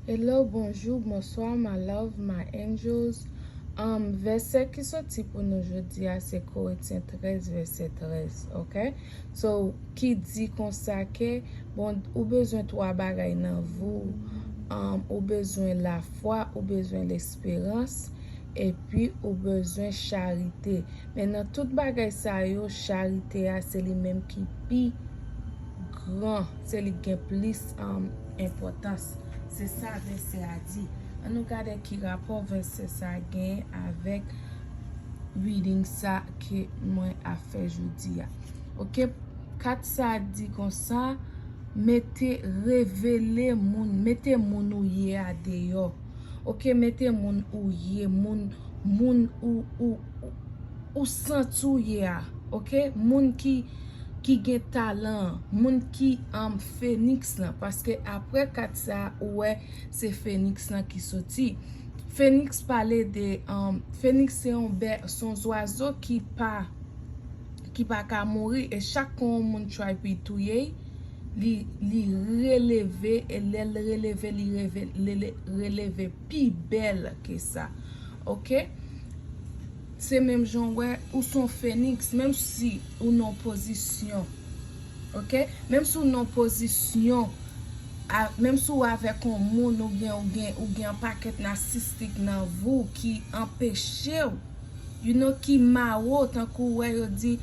Hello bonjou bonswa ma love ma angels um vèsè ki soti pou nou jodi a se koretyen 13 vèsè 13 ok so ki di konsa ke bon ou bezwen 3 bagay nan vi w um ou bezwen lafwa ou bezwen lesperans epi ou bezwen charite men nan tout bagay sa yo charite a se li menm ki pi gran, se li k gen plis enpòtans. Se sa vèsè a di. An nou gade ki rapò vèsè sa a genyen avèk reading sa ke mwen ap fè jodi a. Ok, kat sa a di konsa, mete, revele moun, mete moun ou ye a deyò. Ok, mete moun ou ye, moun, moun ou, ou. ou santi w ye a ok moun ki ki gen talan an moun ki an feniks lan paske aprè kat sa ou wè se feniks lan ki soti feniks pale de feniks se yon bè se yon zwazo ki pa ki pa ka mouri e chak kon yon moun try pou y touye y li releve e lè l releve li releve pi bèl ke sa ok. Se menm jan w wè ou se yon feniks menm si ou nan yon pozisyon ok menm si ou nan yon pozisyon menm si ou avèk yon moun ou byen ou gen ou gen yon pakèt nasistik nan vi w ki anpeche w you know ki mare w tankou ou wè yo di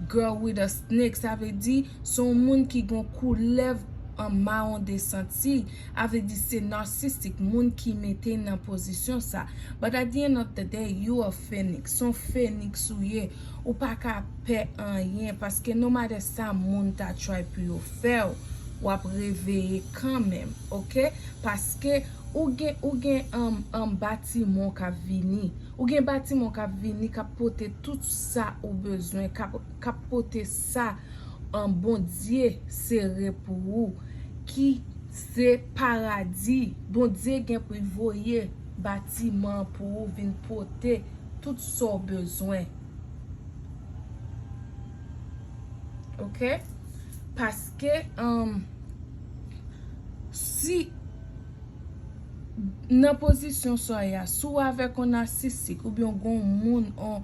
girl with a snake sa vle di se yon moun ki gen yon koulèv an mawon de senti. a vle di se narcissistic moun ki mete nan pozisyon sa but at the end of the day you a phoenix son phoenix ou ye ou pa ka pè anyen paske no matter sa moun ta try pou yo fèw wap reveye kanmenm ok paske ou gen ou gen an batimon kap vini ou gen batimon kap vini kap pote tout sa ou bezwen kap pote sa an bondye se re pou ou ki se paradi bondye gen pou l voye batiman an pou ou vin pote tout sa w bezwen ok paske humm si nan pozisyon sa ya si w avèk yon nasisik oubyen w gen yon moun yon.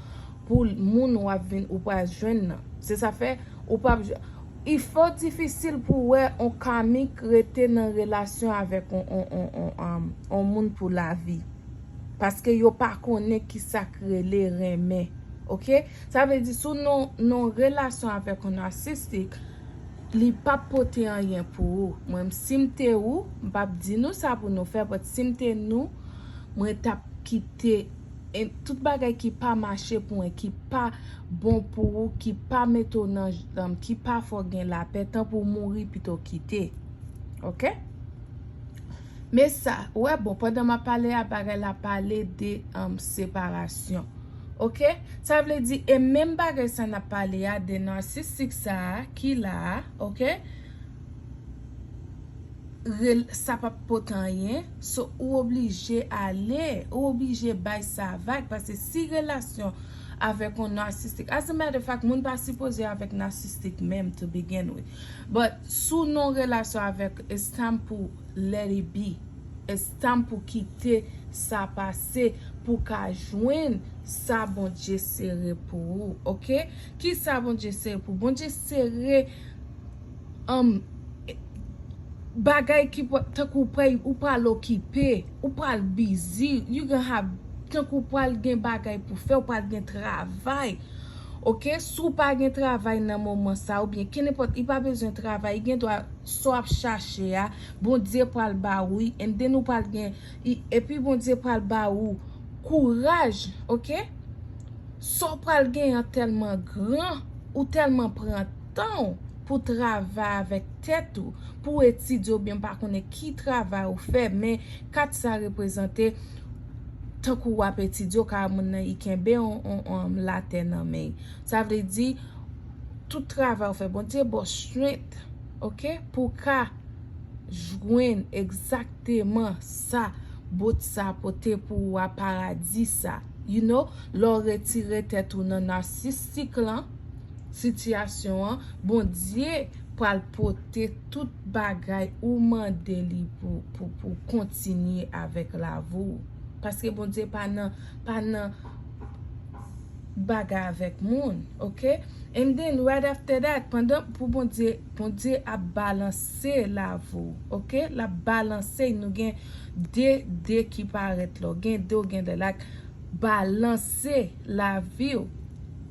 pou moun wap vin ou pral jwenn nan. Se sa fè ou pap jwenn. I fò difisil pou wè on kamik rete nan relasyon avèk on moun pou lavi. Paske yo pa konnen ki sa k rele renmen. Ok. Sa vle di sou non relasyon avèk on narcissistic, li pap pote anyen pou ou. Mwen m si m te ou, m pap di nou sa pou nou fè, but si m te nou, mwen tap kite. En tout bagay ki pa mache pou en ki pa bon pou ou ki pa mete ou nan janm ki pa fè w gen lapè tan pou w mouri pito w kite ok men sa ou wè bon pandan map pale a bagay la pale de an separasyon ok sa vle di e menm bagay sa nap pale a de narcissik sa ki la ok. sa pap pot anyen so ou oblije ale ou oblije bay sa vag paske si relasyon avèk yon narcissistic as a matter of fact moun pa sipoze avèk narcissistic menm to begin with but si w nan yon relasyon avèk it's time pou let it be it's time pou kite sa pase pou w ka jwenn sa Bondye sere pou ou ok kisa Bondye sere pou w Bondye sere Humm bagay ki pwal tankou pway ou pwal okipe ou pwal bizi you gonna have tankou pwal gen bagay pou fè ou pwal gen travay ok si w pa gen travay nan moman sa ou byen kenenpòt li pa bezwen travay gen dwa sa w ap chache a bondye pwal ba ou li and then ou pwal gen epi bondye pwal ba ou kouraj ok sa w pwal gen an tèlman gran ou tèlman pran. tan w pou travay avèk tèt ou, pou w etidye oubyen m pa konnen ki travay ou fè men kat sa reprezante tankou w ap etidye ou ka wè moun nan i kenbe yon latè nan men l sa vle di tout travay ou fè Bondye ba w strength ok pou w ka jwenn egzakteman sa bot sa pote pou ou a paradis sa you know lè w retire tèt ou nan narcissistic lan. sitiyasyon an bondye pral pote tout bagay ou mande li pou kontinye avèk lavou paske bondye pa nan pa nan bagay avèk moun ok and then right after that pandan pou bondye bondye ap balanse lavou ok lap balanse nou gen de de ki parèt la ou gen de ou gen de lak balanse laviw.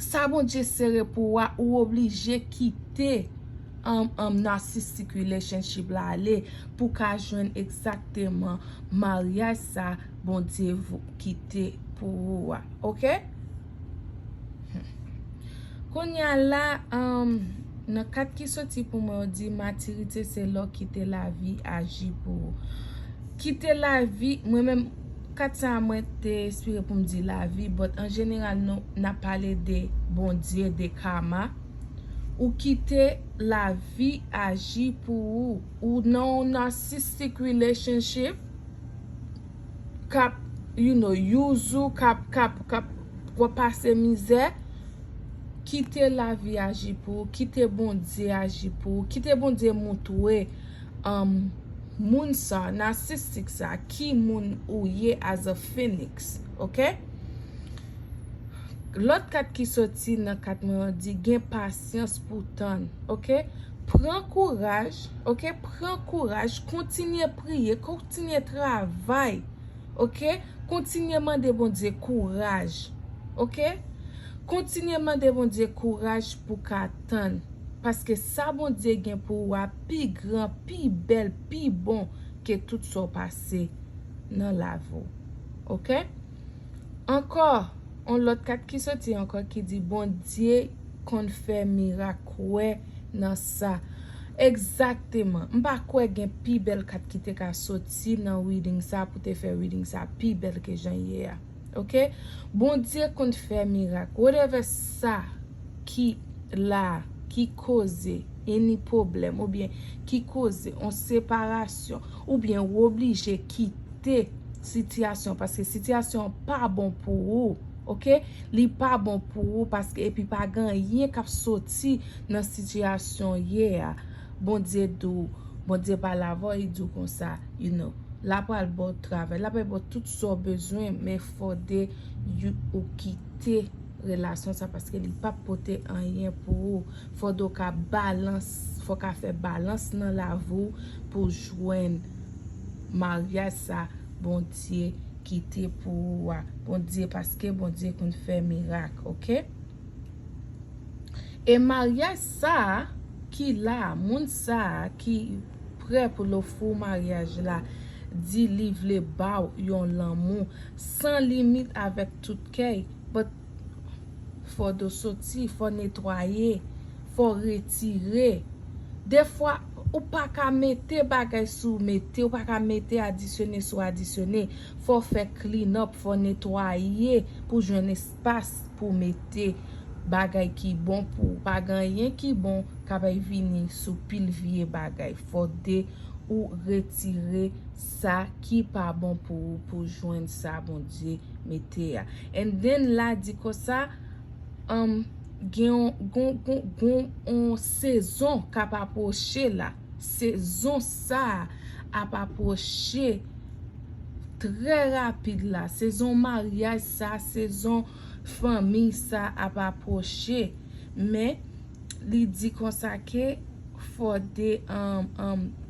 sa Bondye sere pou ou a ou oblije kite narcissistic relationship la ale pou w ka jwenn egzakteman maryaj sa Bondye kite pou ou a ok kounya la nan kat ki soti pou mwen yo di matirite se lè w kite lavi aji pou ou kite lavi mwen menm 4 sa mwen te espere pou m di lavi but an jeneral nou nap pale de Bondye de karma ou kite lavi aji pou ou ou nan yon narcissistic relationship kap you know use ou kap kap kap fè w pase mizè kite lavi aji pou ou kite Bondye aji pou ou kite Bondye moutwe Humm moun sa narcissistic sa ki moun ou ye as a phoenix ok lòt kat ki soti nan kat mwen an di gen pasyans pou tann ok pran kouraj ok pran kouraj kontinye priye kontinye travay ok kontinye mande Bondye kouraj ok kontinye mande Bondye kouraj pou ka tann paske sa Bondye gen pou ou a pi gran, pi bèl, pi bon ke tout sa w pase nan lavi w. Ok? Ankò, yon lòt kat ki soti ankò ki di Bondye konn fè mirak kwè nan sa. Egzakteman. M pa kwè gen pi bèl kat ki te ka soti nan reading sa pou te fè reading sa pi bèl ke jan l ye a. ok bondye konn fè mirak whatever sa ki la ki koze any problem ou byen ki koze on separasyon ou byen ou oblije kite sitiyasyon paske sitiyasyon an pa bon pou ou ok li pa bon pou ou paske epi pa gen anyen kap soti nan sitiyasyon ou ye a bondye di w bondye pale avè w li di w konsa you know la pral baw travay la pral baw tout sa w bezwen men fòde ou kite relasyon sa paske li pap pote anyen pou ou fòde w ka balans fò w ka fè balans nan lavi w pou w jwenn maryaj sa Bondye kite pou ou a Bondye paske Bondye konn fè mirak ok e maryaj sa ki la moun sa ki prè pou l ofri w maryaj la di li vle ba w yon lanmou san limit avèk tout kè y but fò do soti fò netwaye fò retire defwa ou pa ka mete bagay sou mete ou pa ka mete adisyone sou adisyone fò fè clean up fò netwaye pou jwenn espas pou mete bagay ki bon pou ou pa gen anyen ki bon kapè vini sou pil vye bagay fò de ou retire sa ki pa bon pou ou pou jwenn sa Bondye mete a and then la di konsa am gen yon gon gon gon yon sezon kap apwoche la. Sezon sa a ap apwoche trè rapid la. Sezon maryaj sa a, sezon fanmi sa a ap apwoche. Men, li di konsa ke fò de,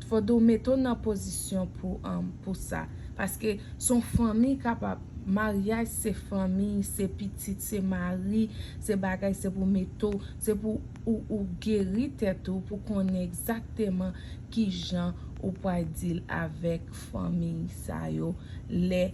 fò de ou mete ou nan pozisyon pou sa. Paske son fanmi k ap ap, maryaj se fanmi, se pitit, se mari, se bagay, se pou mete ou Se pou ou ou geri tèt ou pou konnen egzakteman ki jan ou pwal deal avèk fanmiy sa yo lè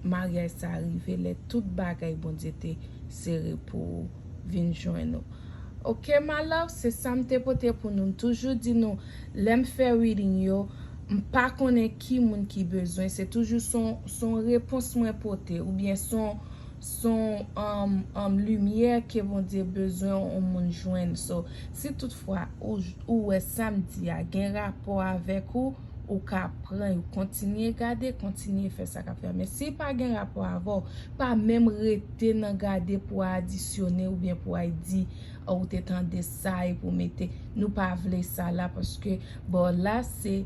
maryaj sa rive lè tout bagay Bondye te sere pou ou vin jwenn ou ok ma love se sam te pote pou nou m toujou di nou lèm fè reading yo m pa konnen ki moun ki bezwen se toujou son repons mwen pote oubyen son Son um limyè ke Bondye bezwen on moun jwenn so si tout fwa ou wè sam di a gen rapò avèk ou ou ka pran yo kontinye gade kontinye fè sa kap fè men si pa gen rapò avèw pa menm rete nan gade pou adisyone oubyen pou ay di ou te tande sa epi ou mete nou pa vle sa la paske bò la se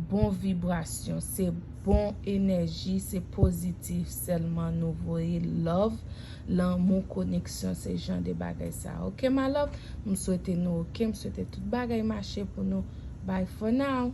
bon vibrasyon se. Bon enèji se pozitif sèlman nou voye love lanmou koneksyon se jan de bagay sa ok ma love m swete nou ok m swete tout bagay mache pou nou bye for now.